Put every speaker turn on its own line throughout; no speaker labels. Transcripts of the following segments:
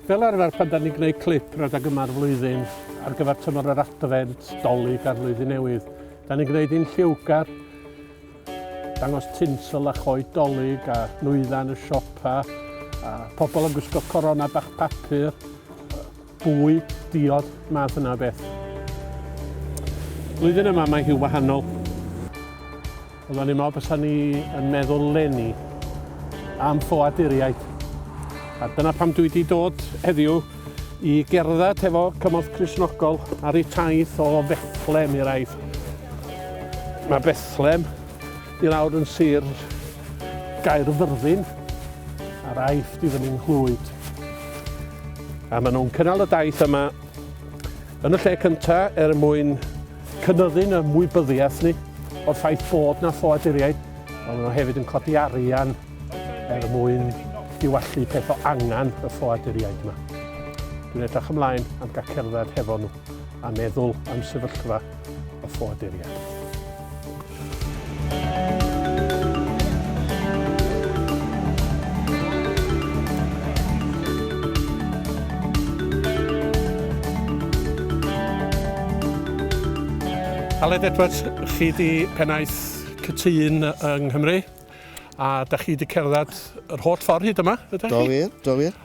Fel arfer pan da ni'n gwneud clip rhedeg yma'r flwyddyn ar gyfer tymor yr adfent, dolyg a'r flwyddyn newydd, da ni'n gwneud un lliwgar, dangos tinsel a choed dolyg a nwyddau yn y siopa, a pobl yn gwisgo corona bach papur, bwy, diod, math yna o beth. Flwyddyn yma mae hi'n wahanol. Ond o'n i'n meddwl bys ni yn meddwl lenni am ffoaduriaid. A dyna pam dwi wedi dod heddiw i gerdded hefo cymorth Crisnogol ar ei taith o Fethlem i'r aif. Mae Bethlem Dwi nawr yn Sir Gaerfyrddin a'r Aifft i fyny Nghlwyd. A maen nhw'n cynnal y daith yma yn y lle cynta er mwyn cynyddu'n ymwybyddiaeth ni o'r ffaith bod na ffoaduriaid, ond maen nhw hefyd yn codi arian er mwyn diwallu peth o angen y ffoaduriaid yma. Dwi'n edrych ymlaen am gael cerdded hefo nhw a meddwl am sefyllfa y ffoaduriaid. Aled Edwards, chi di pennaeth cytun yng Nghymru a da chi di cerdded yr holl ffordd hyd yma, ydych chi? Do wir, do wir.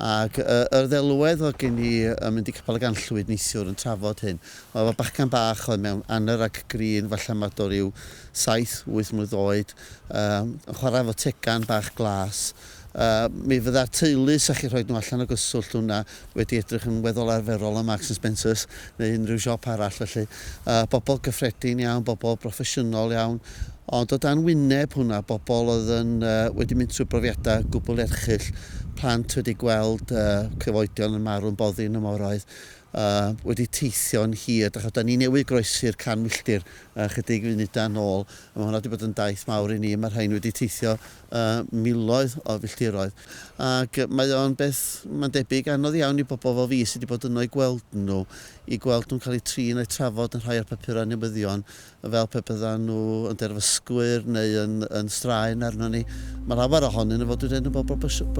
Ac yr ddelwedd oedd gen i yn mynd i Capel y Ganllwyd neithiwr yn trafod hyn. Mae fy bachgen bach oedd mewn anner ac grin, falle mae do ryw saith, wyth mlwydd oed, yn chwarae efo tegan bach glas. Mi fydda'r teulu, 'sa chi'n rhoi nhw allan o gyswllt, hwnna, wedi edrych yn weddol arferol ym Marks and Spencers. neu unrhyw siop arall felly, yy bobl gyffredin iawn, bobl broffesiynol iawn, ond o dan wyneb hwnna, bobl oedd yn yy wedi mynd trwy brofiadau gwbl erchyll, plant wedi gweld yy cyfoedion yn marw'n boddi yn y moroedd, yy wedi teithio'n hir, dach chibod, 'dan ni newydd groesi'r can milltir yy chydig funudau nôl, a ma' hwnna wedi bod yn daith mawr i ni, ma' rhain wedi teithio y miloedd o filltiroedd, ac mae o'n beth, mae'n debyg, anodd iawn i bobl fel fi sy' 'di bod yno i gweld nhw, i gweld nhw'n cael eu trin a'u trafod yn rhai o'r papurau newyddion fel pe byddan nhw yn derfysgwyr neu yn yn straen arnon ni. Mae llawer ohonyn nhw, fel dwi'n dweud, yn bobl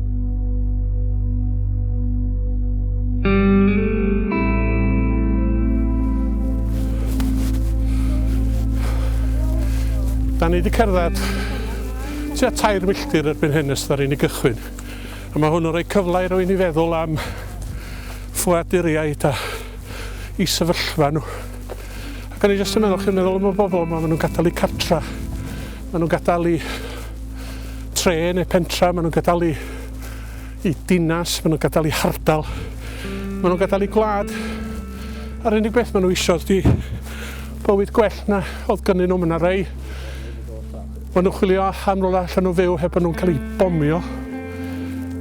Da ni wedi cerdded tua tair milltir erbyn hyn ystod ar un i gychwyn. A mae hwn yn rhoi cyfle i rwy'n i feddwl am ffwaduriaid a i sefyllfa nhw. Ac o'n i jyst yn meddwl, chi'n meddwl am y bobl yma, maen nhw'n gadael eu cartra, maen nhw'n gadael eu tre neu pentra, maen nhw'n gadael eu, eu dinas, maen nhw'n gadael eu hardal, maen nhw'n gadael eu gwlad. A'r unig beth maen nhw eisiau ydy bywyd gwell na oedd gynnyn nhw. Mae yna rei maen nhw'n chwilio am rola allan nhw fyw heb nhw'n cael eu bomio.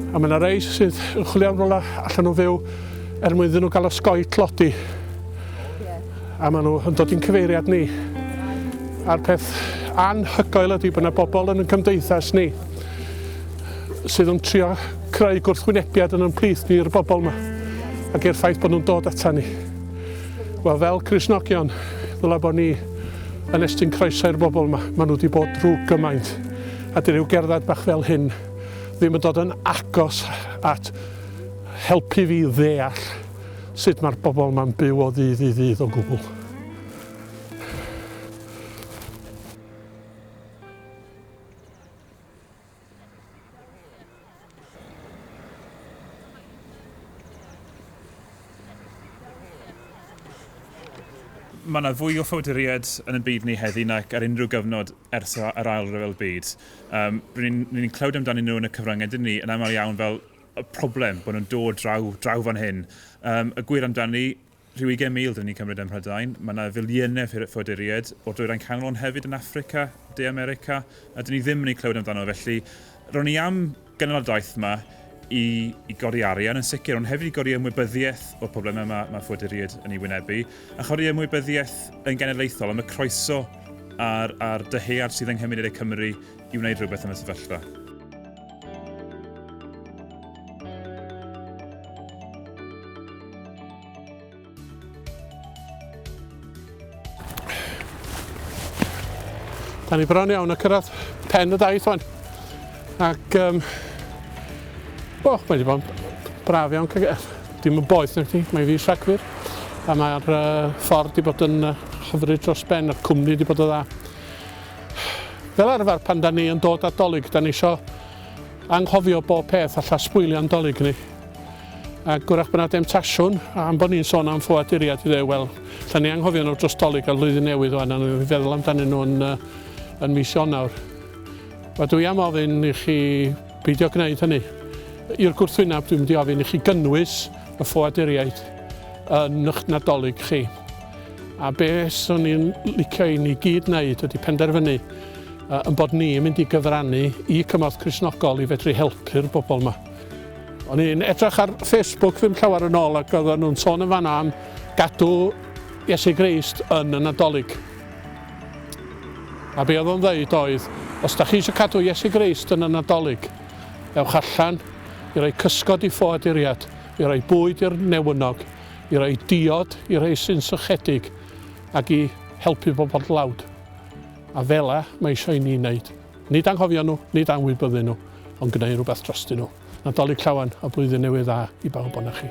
A mae yna rei sydd yn chwilio am rola allan nhw fyw er mwyn iddyn nhw gael osgoi tlodi. A maen nhw yn dod i'n cyfeiriad ni. A'r peth anhygoel ydy bod yna bobl yn y cymdeithas ni sydd yn trio creu gwrthwynebiad yn ymplith ni i'r bobl yma ac i'r ffaith bod nhw'n dod ata ni. Wel, fel Crisnogion, ddyla bod ni yn estyn croeso i'r bobl yma. Maen nhw wedi bod drwy gymaint. A dyn rhyw gerdded bach fel hyn ddim yn dod yn agos at helpu fi ddeall Sut mae'r bobl yma'n byw o ddydd i ddydd o gwbl.
mae yna fwy o ffawduriaid yn y byd ni heddi nac ar unrhyw gyfnod ers yr ail ryfel byd. Um, Rydyn ni'n ni clywed amdanyn nhw yn y cyfryngau dyn ni yn aml iawn fel y problem bod nhw'n dod draw, draw fan hyn. Um, y gwir amdani, rhyw 20,000 dyn ni'n cymryd ym Mhrydain. Mae yna filiynau ffoaduriaid o'r dwyrain canol ond hefyd yn Africa, De America, a dyn ni ddim yn ei clywed amdano. Felly, ro'n i am gynnal y daith yma i, i godi arian yn sicr, ond hefyd i godi ymwybyddiaeth o'r problemau yma mae ffoaduriaid yn ei wynebu, a chodi ymwybyddiaeth yn genedlaethol am y croeso a'r, a'r dyhead sydd yng Nghymunedau Cymru i wneud rhywbeth yn y sefyllfa.
Da ni bron iawn a cyrraedd pen y daith fan. Ac, um, o, mae wedi bod yn braf iawn cael eh, Dim yn boeth na chi, mae fi Rhagfyr. A mae'r uh, ffordd wedi bod yn uh, hyfryd dros ben, a'r cwmni wedi bod o dda. Fel arfer pan da ni yn dod at Dolig da ni isio anghofio bob peth alla sbwylio'n Dolig ni. Ac gwrach bod yna demtasiwn am bod ni'n sôn am ffoaduriaid i ddew, wel, lle ni anghofio nhw dros Dolig ar flwyddyn newydd o'n angen i feddwl amdanyn nhw yn, yn mis Ionawr. Wel, dwi am ofyn i chi beidio gwneud hynny. I'r gwrthwyneb, dwi'n mynd i ofyn i chi gynnwys y ffoaduriaid yn eich Nadolig chi. A be swn i'n licio i ni gyd wneud ydy penderfynu yn bod ni'n mynd i gyfrannu i cymorth Cristnogol i fedru helpu'r bobl yma. O'n i'n edrych ar Facebook ddim llawer yn ôl ac oedden nhw'n sôn yn fanna am gadw Iesu Grist yn y Nadolig. A be oedd o'n ddeud oedd, os da chi eisiau cadw Iesu Grist yn y Nadolig, ewch allan i roi cysgod i ffoaduriad, i roi bwyd i'r newynog, i roi diod i rhai sy'n sychedig ac i helpu bobl dlawd. A fela mae eisiau i ni wneud. Nid anghofio nhw, nid anwybyddu nhw, ond gwneud rhywbeth drostyn nhw. Nadolig llawen a blwyddyn newydd dda i bawb o'na chi.